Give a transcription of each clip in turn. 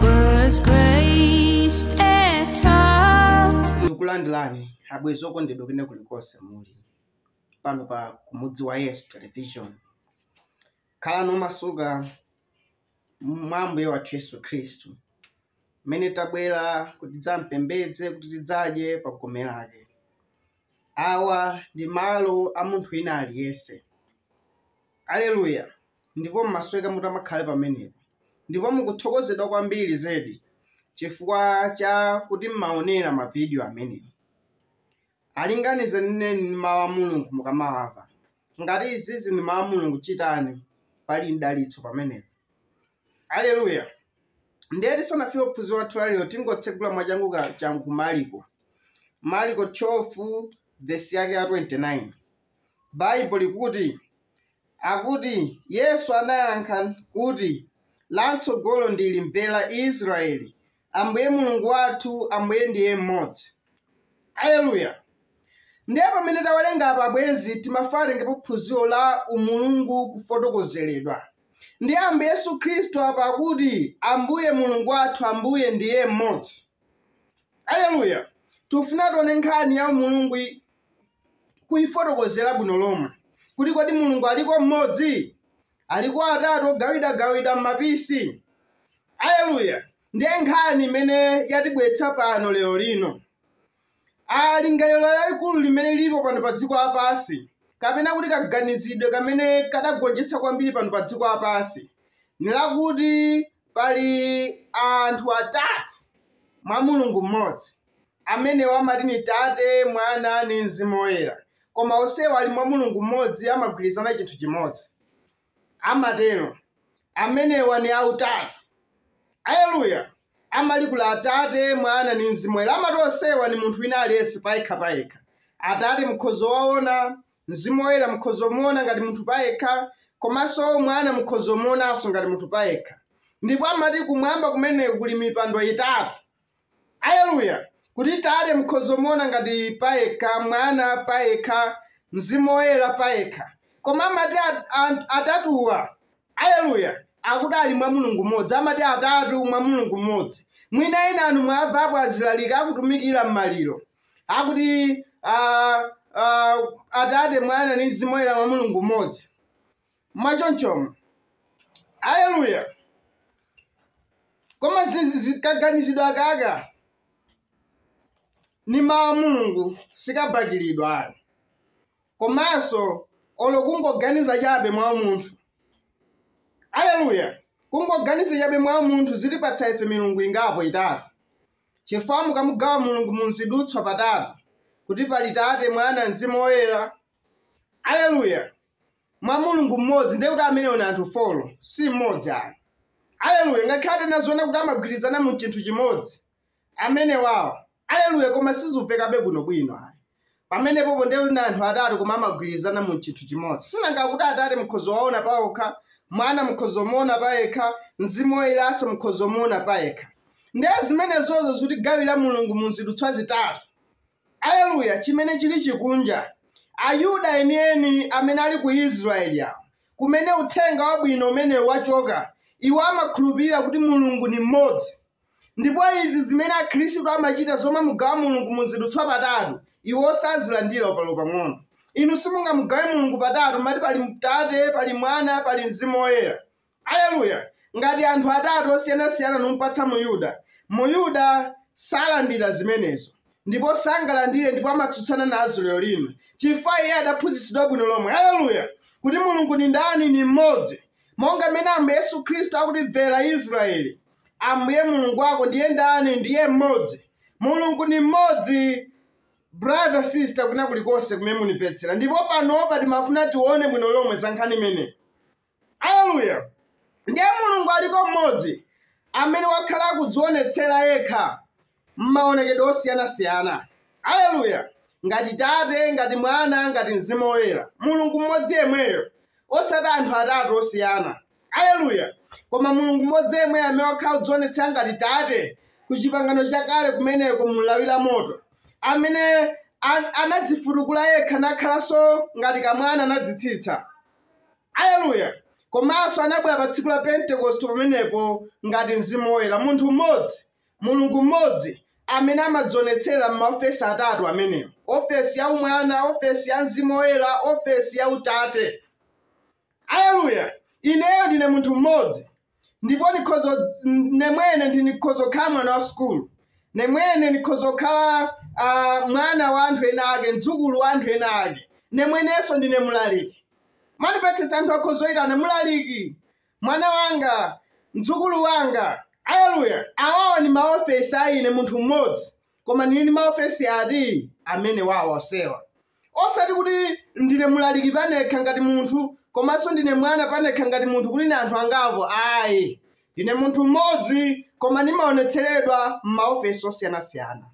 was graced a child. ndikulandireni abwezi okondedwa kwene kulikonse muli pano pa kumudzi wa yesu television khalani omasuka mwa ambuye wathu yesu khristu mmene tabwera kuti tidzampembedze kuti tidzadye pa gome lake Awa ndi malo a munthu wina aliyense. Aleluya! Ndipo mumasweka mutamakhale pamenepo, ndipo mukuthokozedwa kwambiri zedi chifukwa cha kuti mumawonera mavideo amenewo. Alinganizeni ndi Mawu a Mulungu mukamawamva. Ngati izizi ndi Mawu a Mulungu, chitani, pali mdalitso pamenepo. Aleluya! Ndiye tisanafike ku phunziro lathu la lero, tingotsegula mwachangu changu ku Marko. Marko 12 vesi yake ya 29 Baibo likuti akuti Yesu anayankha kuti lamtsogolo ndili mvera Israeli Ambuye Mulungu wathu Ambuye ndiye mmodzi. Aleluya! Ndiye pamene tawerenga apa abwenzi timafuna tengepo phunziro la umulungu kufotokozeredwa ndi Ambuye Yesu Khristu apa akuti Ambuye Mulungu wathu Ambuye ndiye mmodzi. aleluya tifuna tione nkhani ya umulungu i- kuifotokozera bwino lomwe kuti kodi mulungu aliko mmodzi aliko atatu ogawidagawida m'mapisi aleluya ndiye nkhani imene yatibweretsa pano lero lino a lingaliro lalikulu limene lilipo pano pa dziko lapansi kapena kuti kaganizidwe kamene kadagonjetsa kwambiri pano pa dziko lapansi ni lakuti Pali anthu atatu mwa Mulungu mmodzi. Amenewa amati ni Tate, Mwana, ni mzimu woyela. Koma onsewa ali mwa Mulungu mmodzi, amagwilizana chinthu chimodzi. Amatelo. Amenewa ni autatu. Aleluya! Amalikula Atate, Mwana, ni mzimu woyela. Amati onsewa ni munthu wina aliyense payekha-payekha. Atate mukhoza kuwaona, Mzimu Woyera mukhoza kumuona ngati munthu payekha, komanso Mwana mukhoza kumuonanso ngati munthu payekha. Ndipo amati kumwamba kumeneko kuli mipando itatu. Aleluya! Kuti Tate mukhoza kumuona ngati payekha, Mwana payekha, Mzimu Woyera payekha. Koma amati at, at, atatuwa, aleluya, akuti ali mwa Mulungu mmodzi. Amati atatu mwa Mulungu mmodzi. Mwina enanu mwamvapo azilaliki akutumikira m'maliro. akuti ah, ah, atate mwana ndi mzimu woyera mwa mulungu mmodzi mwachonchomo aleluya koma zi- zi- kaganizidwa kaka ni mawu a mulungu sikabakilidwa ayi komanso olo kungoganiza chabe mwa munthu aleluya kungoganiza chabe mwa munthu zitipatsa ife milungu ingapo itatu Chifukwa mukamugawa Mulungu mu mzidutswa patatu, kuti pali Tate, Mwana, Mzimu Woyera. Aleluya! Mwa Mulungu mmodzi, ndiye kuti amenewo ni anthu foro, si mmodzi ayi. Aleluya! Ngakhale atanena zoona kuti amagwirizana mu chinthu chimodzi, amenewawo. Aleluya! Koma sizipekabe bwinobwino ayi. pamenepopo ndiye kuti na anthu atatu koma amagwirizana mu chinthu chimodzi sinanga kuti atate mukhozo waona paokha mwana mukhozo muona payekha mzimu woyeranso mukhozo muona payekha ndiye zimenezozo zitigawira mulungu mu zidutswa zitatu aleluya chimene chili chikunja ayuda enieni amene ali ku israeli awo kumene uthenga wabwino umenewo wachoka iwo amakhulupirira kuti mulungu ni mmodzi Ndipo izi zimene Akhristu amachita zomamugawa Mulungu mu zidutswa patatu, iwo sazilandira mpang'ono. Inu simungamugawe Mulungu patatu, mumati pali Tate, pali Mwana, pali Mzimu Woyera. Aleluya! Ngati anthu atatu osiyanasiyana numupatsa Muyuda, Muyuda salandira zimenezo, ndipo sangalandire ndipo amatsutsana nazo lero lino, chifukwa iye adaphunzitsidwa bwino lomwe, aleluya, kuti Mulungu ni ndani, ni m'modzi, monga m'mene Ambuye Yesu Khristu akuti, Mvera Israeli, Ambuye Mulungu wako ndiye ndani? Ndiye mmodzi. Mulungu ni mmodzi. Brother, sister, kwina kulikonse kumene munipetsera. Ndipo panopa timafuna tione bwino lomwe za nkhani imene. Haleluya. Ndiye Mulungu aliko mmodzi amene wakhala akudzionetsera yekha m'maonekedwe osiyanasiyana. Aleluya! Ngati Tate, ngati Mwana, ngati Mzimu Woyera, Mulungu mmodzi yemweyo, osati anthu atatu osiyana. Aleluya! Koma Mulungu mmodzi yemweyo amene wakhala kudzionetsera ngati Tate ku chipangano chakale kumeneko mu lawi la moto, amene anadzifutukula yekha nakhalanso ngati kamwana anadzitsitsa. Aleluya! Komanso anabwera pa tsiku la Pentekoste pamenepo ngati Mzimu Woyera, munthu mmodzi. Mulungu mmodzi amene amadzionetsera m'maofesi atatu amenewo, ofesi ya Umwana, ofesi ya Mzimu Woyera, ofesi ya Utate. Aleluya! Ineyo ndine munthu mmodzi, ndipo ine mwene ndi ndikhozo kukhala mwana wa sukulu, nemwene ndikhozo kukhala uh, mwana wa anthu ena ake, mdzukulu wa anthu ena ake, nemwenenso ndine mlaliki. Mwanipetsetsa anthu akhozoitana mlaliki, mwana wanga, mdzukulu wanga. Aleluya! Awawa ndi maofesi a ine, munthu mmodzi, koma ndili ndi maofesi ati? Amenewa onsewa. Osati kuti ndine mlaliki panekha ngati munthu, komanso ndine mwana panekha ngati munthu kuti ndi anthu angapo, ayi. Ndine munthu mmodzi koma ndimaonetseredwa m'maofesi osiyanasiyana.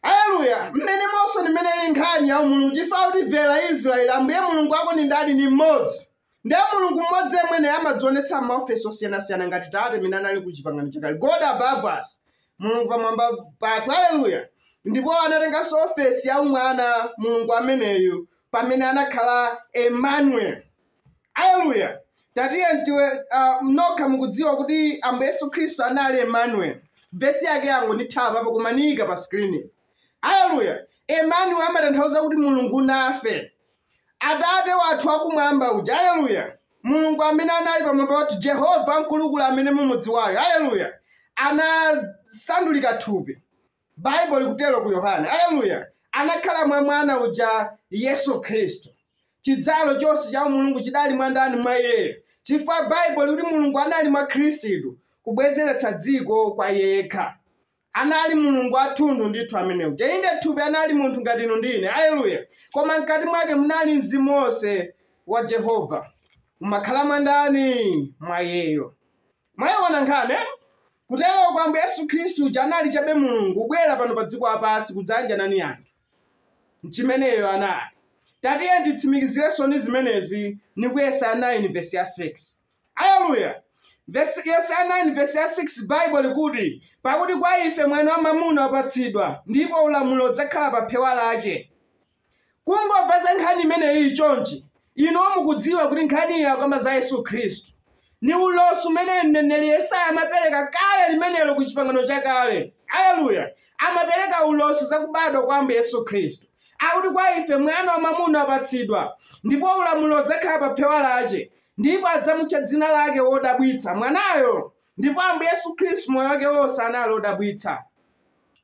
Aleluya! Mmenemonso ni mmene ili nkhani ya umulungu, chifukwa kuti bvela Israyeli, Ambuye Mulungu wako ni ndani? Ni mmodzi. Ndiye Mulungu mmodzi yemwe naye amadzionetsa m'maofesi osiyana-siyana ngati Tate amene anali ku Chipangano Chakale. God above us. Mulungu pamwamba pathu. Aleluya! Ndipo anatenganso ofesi ya umwana Mulungu ameneyu pamene anakhala Emmanuel. Aleluya! Tatiyeni tiwe uh, nokha mukudziwa kuti Ambuye Yesu Khristu anali Emmanuel. Vesi yake yangondithawa apo koma niyika pa screen. Aleluya! Emmanuel amatanthauza kuti Mulungu nafe. Atate wathu wakumwamba uja. Aleluya! Mulungu amene anali pamwamba pathu Jehova mkulukulu amene mumudziwayo. Aleluya! Anasandulika thupi. Baibulo likutero ku Yohane. Aleluya! Anakhala mwa mwana uja, Yesu Khristu. Chidzalo chonse cha Umulungu chidali mwa ndani? Mwa Iyeyo. Chifukwa Baibulo likuti Mulungu anali mwa Khristu kubwezeretsa dziko kwa Iye yekha. Anali Mulungu wathunthu ndithu amene uja. Inde thupi anali munthu ngati inu ndi ine. Aleluya! Koma mkati mwake munali mzimu wonse wa Jehova. Umakhala mwa ndani? Mwa Iyeyo. Mwaiona nkhani? Kuteroko Ambuye Yesu Khristu uja anali chabe Mulungu kubwera pano pa dziko lapansi kudzayanjana ni anthu. N'chimene iyeyo anali. Tatiyeni titsimikizirenso ni zimenezi ni ku Yesaya 9 vesi ya 6. Aleluya! Vesi, Yesaya 9 vesi ya 6 Baibo likuti, Pakuti kwa ife mwana wamwamuna wapatsidwa, ndipo ulamuliro udzakhala pa phewa lace. Kungomva za nkhani imeneyi chonchi, inuyo mukudziwa kuti nkhaniyi akukamba za Yesu Khristu. Ni ulosi umene mneneli Yesaya amapeleka kale limenelo ku Chipangano Chakale. Aleluya! Amapeleka ulosi za kubadwa kwa Ambuye Yesu Khristu. Akuti kwa ife mwana wamwamuna wapatsidwa, ndipo ulamuliro udzakhala pa phewa lace, ndipo adzamutcha dzina lake Wodabwitsa, Mwanayo! Ndipo Ambuye Yesu Khristu moyo wake wonse anali wodabwitsa.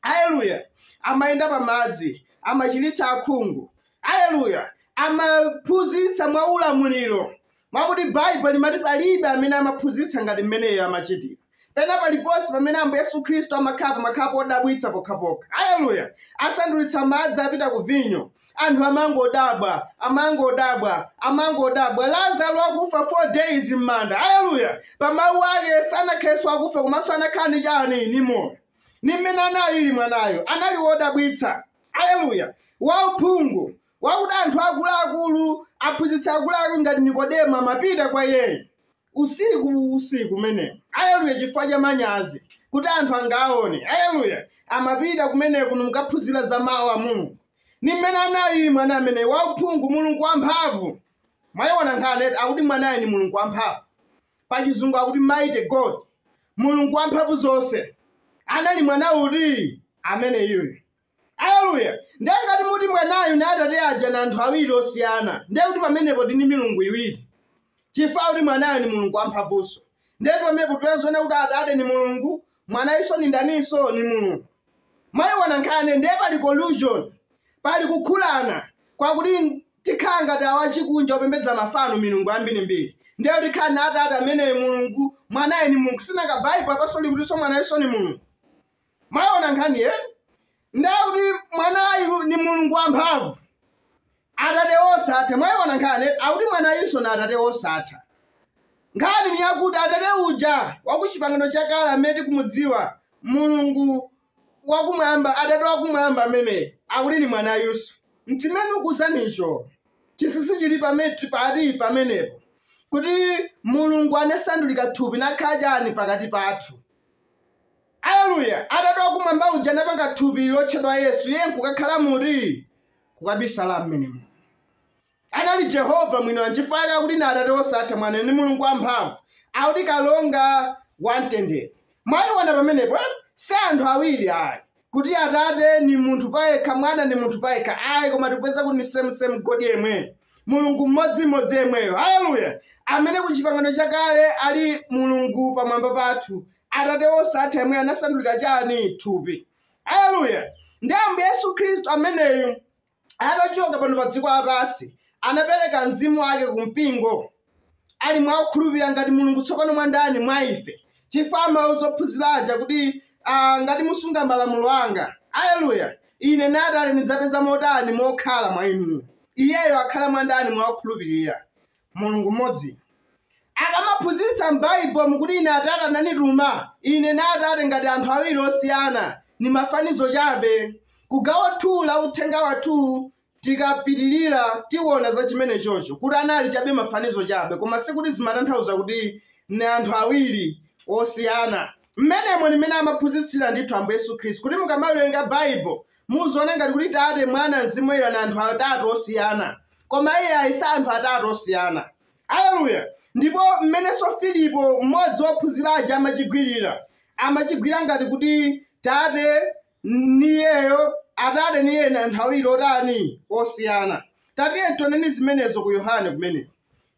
aleluya amayenda pa madzi amachiritsa akhungu aleluya amaphunzitsa mwa ulamuliro mwakuti baibulo limati palibe amene amaphunzitsa ngati mmeneyo amachitira pena paliponse pamene ambuye yesu khristu amakhala pamakhala podabwitsa pokhapokha aleluya asandulitsa madzi apita ku vinyo anthu amangodabwa amangodabwa amangodabwa lazaro akufa four days m'manda aleluya pa mawu ake sanakhalenso akufa komanso anakhala ndi chani ni moyo ndi mmene analili mwanayo anali wodabwitsa aleluya wauphungu wakuti anthu akuluakulu aphunzitsi akuluakulu ngati nikodemo amapita kwa iyeyo usiku usiku umenewo aleluya chifukwa cha manyazi kuti anthu angawaone aleluya amapita kumeneko ni kukaphunzira za mawu a mulungu ndi mmene analili mwana ameneyi wauphungu mulungu wamphamvu mwayiona nkhani akuti mwanayo ni mulungu wamphamvu pa chizungu akuti mighty god mulungu wamphamvu zonse anali mwana uti ameneyuyo aleluya ndiye ngati muti mwanayo na atate aja na anthu awiri osiyana ndiye kuti pamenepo ndi milungu iwiri chifukwa akuti mwanayo ni mulungu wamphamvuzonse ndiye pamenepo tiziona kuti atate ni mulungu Mwanayunso ni ndaninso? Ni Mulungu. Mwayiona nkhani, ndiye pali collusion, pali kukhulana kwakuti tikhala ngati awa achikunja opembedza mafano, milungu ambiri-mbiri. Ndiye kuti tikhala na atate ameneyo Mulungu, mwanayo ni Mulungu. Sinanga Baibo apanso likutinso mwanayunso ni Mulungu. Mwayiona nkhani, eti? ndiye kuti mwanayu ni mulungu wamphamvu atate wosatha mwayiona nkhani akuti mwanayunso na atate wosatha nkhani ni yakuti atate uja wa ku chipangano chakale amene tikumudziwa mulungu wakumwamba atate wakumwamba ameneyo akuti ni mwanayunso mtimene ukuzanicho chisisi chili pati pamenepo kuti mulungu anasandulika thupi nakhala chani pakati pathu Aleluya! Atate wakumwamba uja anapanga thupi lotchedwa Yesu, iye nkukakhala muti, kukabisala mmenemo. Anali Jehovah mwiniwake, nchifukwa yake akuti ni Atate wosatha, Mwana, ni Mulungu wamphamvu, akuti Kalonga wa mtendere. Mwaiona pamenepo, eh? si anthu awiri ayi, kuti Atate ni munthu payekha, Mwana ni munthu payekha ayi, koma tikupeza kuti ni same same God yemweyo, Mulungu mmodzimodzi yemweyo. Aleluya! Amene ku chipangano chakale ali Mulungu pamwamba pathu, atate wosatha yemweyo anasandulika chani thupi aleluya ndi ambuye yesu khristu ameneyu atachoka pano pa dziko lapansi anapereka mzimu wake ku mpingo ali mwa okhulupirira ngati mulungu tsopano mwa ndani mwa ife chifukwa amauza ophunzira aja kuti ah, ngati musunga malamulo anga aleluya ine na atate ndidzapeza mo tani mokhala mwa inu iyeyo akhala mwa ndani mwa okhulupirira mulungu mmodzi akamaphunzitsa m'baibo nkuti ine atate ananituma ine na atate ngati anthu awiri osiyana ni mafanizo chabe kugawo 2 la uthenga wathu tikapitirira tiwona za chimenechocho kuti anali chabe mafanizo chabe koma sikuti zimatanthauza kuti ni anthu awiri osiyana mmenemo ni mmene amaphunzitsira ndithu ambuye yesu khristu kuti mukamaliwerenga baibo muziona ngati kuti tate mwana mzimu woyera ni anthu atatu osiyana koma iyayi si anthu atatu osiyana aleluya ndipo mmenenso filipo mmodzi wophunzira aja amachigwirira amachigwira ngati kuti tate niyeyo atate niye ni anthu awiri otani osiyana tatiye tioneni zimenezo ku yohane kumeneko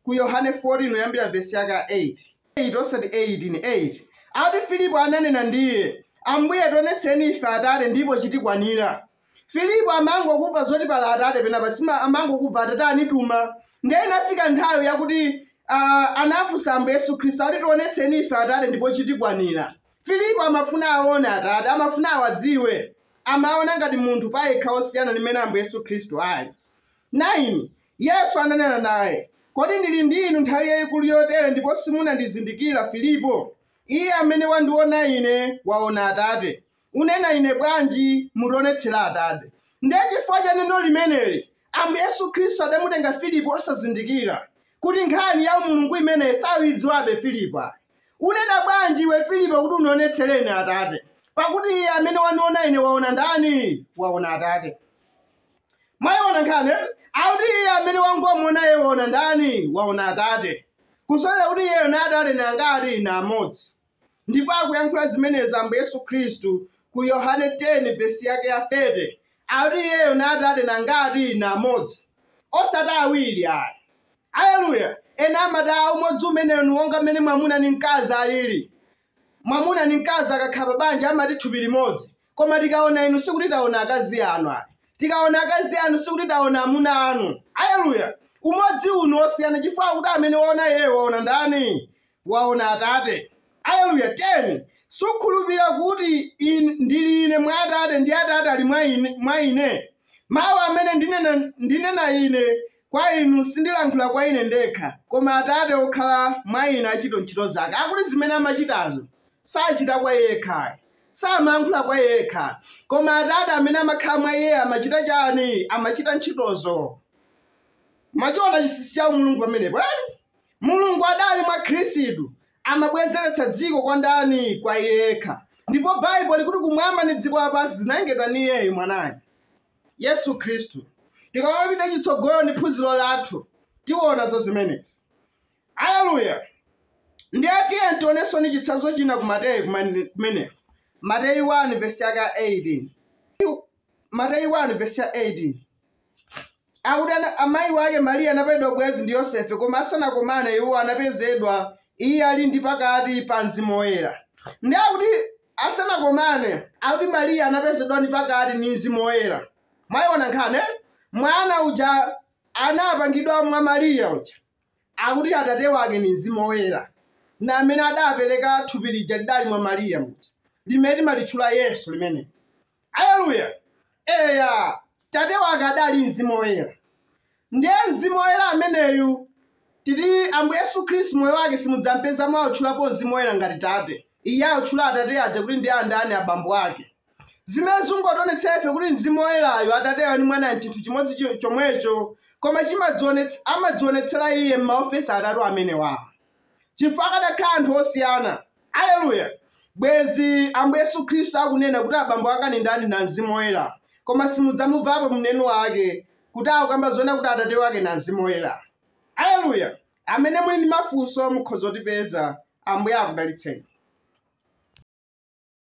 ku Yohane 14 kuyambira vesi yake ya 8 8 osati 8 ni 8 ati filipo ananena ndiye ambuye tionetseni ife atate ndipo chitikwanira filipo amangokumva zoti pali atate penapa sima amangokumva atate anituma ndiye inafika nthawi yakuti uh, anafunsa ambuye yesu khristu ati tionetseni ife atate ndipo chitikwanira filipo amafuna aone atate amafuna awadziwe amaona ngati munthu payekha osiyana ndi mmene ambuye yesu khristu ali 9, Yesu ananena naye, Kodi ndili ndi inu nthawi yaikuru yotere ndipo simunandizindikira, Filipo? Iye amene wandiona Ine waona Atate. Unena iwe bwanji, Mutionetsere Atate? Ndiye chifukwa cha neno limeneli Ambuye Yesu Kristu adamutenga Filipo osazindikira kuti nkhani ya umulungu imeneyi sakuidziwabe, Filipo ayi. Unena bwanji iwe, Filipo, kuti unionetsere Ine Atate? Pakuti iye amene waniona Ine waona ndani? Waona Atate. mwayiona nkhani akuti iye amene wangomuona iye waona ndani waona atate kusonyeza kuti iyeyo na atate ni angati na amodzi ndipo akuyankhula zimenezi ambuye yesu khristu ku yohane 10 vesi yake ya 30 akuti iyeyo na atate na angati na amodzi osati awiri ayi aleluya ena amati a umodzi umenewu ni wonga mmene mwamuna ni mkazi alili Mwamuna ndi mkazi akakhala pa banja amati thupi limodzi. Koma tikaona inu sikuti taona akazi anu ayi. Tikaona akazi anu sikuti taona amuna anu. Aleluya! Umodzi uwu ni wosiyana chifukwa kuti amene waona iyeyo waona ndani? Waona Atate. Aleluya! 10 sukhulupirira kuti in, ndili ine mwa Atate ndi Atate ali mwa ine, mwa ine. Mawu amene ndinena, ndinena ine kwa inu, sindilankhula kwa Ine ndekha, koma Atate wokhala mwa Ine achita ntchito zake. Akuti zimene amachitazo sachita kwa Iye yekha ayi. Samayankhula kwa Iye yekha, koma Atate amene amakhala mwa Iye amachita chani? Amachita ntchitozo. Mwachiona chinsinsi cha umulungu pamenepo eti? Mulungu adali mwa Khristu amabwezeretsa dziko kwa ndani? Kwa Iye yekha. Ndipo Baibulo likuti kumwamba ndi dziko lapansi zinalengedwa ni Iyeyo mwanayo. Yesu Khristu. Tikamapita chitsogolo ndi phunziro lathu, tiona za zimenezi. Aleluya! Ndiye tiyeni tionenso ndi chitsanzo china ku Mateyu kumane- kumeneko. Mateyu 1 vesi yake ya 18. Mateyu 1 vesi ya 18. Akuti ana- amayi wake Mariya anapalidwa ubwenzi ndi Yosefe, koma asanakomane iwo anapezedwa iye ali ndi pakati pa mzimu woyera. Ndiye akuti asanakomane akuti mariya anapezedwa ni pakati ni mzimu woyera mwayiona nkhani? mwana uja anapangidwa mwa mariya uja akuti atate wake ni mzimu woyera na amene adapereka thupi lija lidali mwa mariya muja limene timalitchula yesu limene Aleluya! Eya, Tate wake adali Mzimu Woyera. Ndiye Mzimu Woyera ameneyu titi Ambuye Yesu Khristu moyo wake simudzampezamo akutchulapo Mzimu Woyera ngati Tate. Iye akutchula Atate aja kuti ndi andani abambo ake. Zimene zikungotionetsera ife kuti Mzimu Woyerayo Atateyo ndi Mwana n'chinthu chimodzi cho- chomwecho, koma chimadzionets- amadzionetsera iye m'maofesi atatu amenewawo. chifukwa akadakhala anthu osiyana. Aleluya! Bwezi Ambuye Yesu Khristu akunena kuti abambo ake ni ndani na Mzimu Oyera, koma simudzamumvapo m'neno wake kuti akukamba zoona kuti Atate wake na Mzimu Oyera. Aleluya! Amene muli ndi mafunso mukhoza kutipeza. Ambuye akudalitseni.